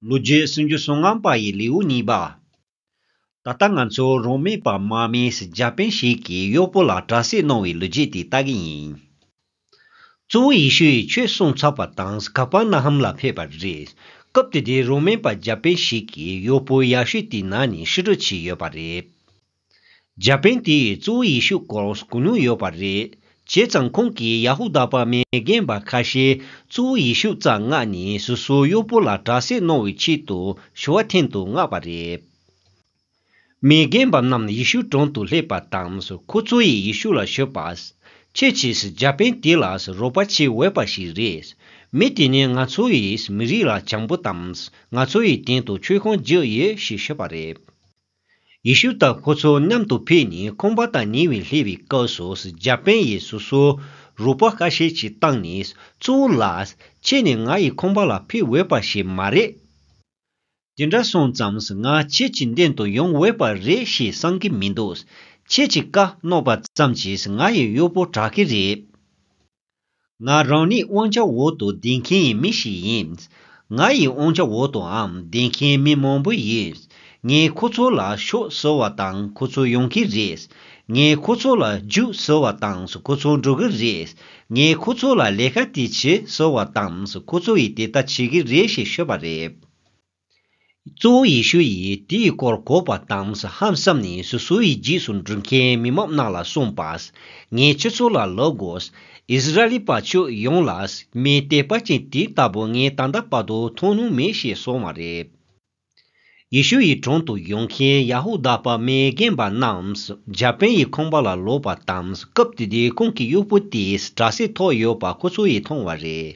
ལོ་རྒྱུས་སུན་ཇུ་སོང་ངམ་པ་ཡི་ལེའུ་གཉིས་པ། ད་ལྟ་ང་ཚོ་རང་མེད་པ་མ་མེས་རྒྱ་དཔོན་ཞིག་གིས་གཡོག་པོ་ལ་དྲ་ཟས་གནང་བའི་ལོ་རྒྱུས་དེ་ལྟ་གི་ཡིན། གཙོ་བོ་ཡེ་ཤུ་ཡིས་ཆོས་གསུངས་ཚར་བ་དང་ཀ་པར་ན་ཧམ་ལ་ཕེབས་པ་རེད། སྐབས་དེ་དུས་རང་མེད་པ་རྒྱ་དཔོན་ཞིག་གིས་གཡོག་པོ་ཡག་ཤོས་དེའི་ནང་ནས་ཧྲི་ཀྲོ་བྱས་ཡོད་པ་རེད། འཇར་པན་དེའི་གཙོ་བོ་ཡི་ཤུ་ཀོར་སུ་གོ་མྱོང་ཡོད་པ་རེད། བྱས་ཙང་ཁོང་གིས་ཡ་ཧུ་དཱ་པར་མའི་རྒན་པ་ཁ་ཤས་གཙོ་བོ་ཡི་ཤུ་རྩ་སྔགས་ནི་སོ་སོའི་གཡོག་པོ་ལ་དྲག་སྲེག་གནང་བའི་ཆེད་དུ་ཞུ་བ་འཐེན་དུ་མངགས་པ་རེད། མའི་རྒན་པ་རྣམས་ཡི་ཤུ་དྲུང་དུ་སླེབས་པ་དང་ཁོ་གཙོ་བོ་ཡི་ཤུ་ལ་ཞུས་པ། ཁྱེད་ཀྱིས་འཇར་པན་དེ་ལ་རོགས་པ་བྱེད་འོས་པ་ཞིག་རེད། མི་དེ་ནི་ང་ཚོའི་མི་རིགས་ལ་བྱང་བུ་དང་ང་ཚོའི་སྟེང་དུ་ཆོས་ཁང་རྒྱག་ཡོད་ཞེས་ཞུས་པ་རེད། ཡེ་ཤུ་དང་ཁོ་ཚོ་མཉམ་དུ་ཕེབས་ནས་ཁོང་པ་དང་ཉེ་བའི་ལྷེ་བའི་སྐབས་སུ་རྒྱ་པན་ཡས་སོ་སོ་རུ་པ་ཁ་ཤས་ཀྱིས་བཏང་ནས་གཙོ་བོ་ལ། ཁྱེད་ནི་ང་ཡིས་ཁོང་པ་ལ་ཕེབས་འོས་པ་ཞིག་མ་རེད། དེ་འདྲ་སོང་ཙམས་ང་ཁྱེད་ཀྱི་མདུན་དུ་ཡོང་འོས་པ་རེད་ཞེས་གསང་གི་མི་འདུག་ཁྱེད་ཀྱིས་བཀའ་མནོ་བ་ཙམ་གྱིས་ང་ཡི་གཡོག་པོ་དྲག་གི་རེད། ང་རང་ནི་དབང་ཆ་འོག་ཏུ་བསྡད་མཁན་ཡི་མི་ཞིག་ཡིན། ང་ཡི་དབང་ཆ་འོག་ཏུའང་བསྡད་མཁན་མི་མང་པོ་ཡོད། ངས་ཁོ་ཚོ་ལ་ཤོག་ཟེར་བ་དང་ཁོ་ཚོ་ཡོང་གི་རེད། ངས་ཁོ་ཚོ་ལ་རྒྱུགས་ཟེར་བ་དང་ཁོ་ཚོ་འགྲོ་གི་རེད། ངས་ཁོ་ཚོ་ལ་ལས་ཀ་དེ་བྱེད་ཟེར་བ་དང་ཁོ་ཚོ་ཡིས་དེ་ལྟ་བྱེད་ཀྱི་རེད་ཞེས་ཤོད་པ་རེད། གཙོ་བོ་ཡེ་ཤུ་ཡིས་དེའི་སྐོར་གོ་བ་དང་ཧམ་བསམ་ནས་སོ་སོའི་རྗེས་སུ་འབྲུ་མཁན་མི་མང་རྣམས་ལ་གསུངས་པ། ངའི་ཁྱོད་ཚོ་ལ་ལོག་གོ། ཨིས་ར་ཨེལ་པ་ཁྱོད་ཡོངས་ལ་མི་དད་པ་ཅན་དེ་ལྟ་བུ་ངས་ད་ལྟ་བར་དུ་མཐོང་མྱོང་མེད་ཞེས་གསུངས་བ་རེད། ཡེ་ཤུ་ཡི་དྲུང་དུ་ཡོང་མཁན་ཡ་ཧུ་དཱ་པ་མའི་རྒན་པ་རྣམས་རྒྱ་དཔོན་ཡི་ཁང་པ་ལ་ལོག་པ་དང་སྐབས་དེ་དུས་ཁོང་གི་གཡོག་པོ་དེས་དྲ་སེ་ཐོགས་ཡོད་པ་ཁོ་ཚོ་ཡིས་མཐོང་བ་རེད།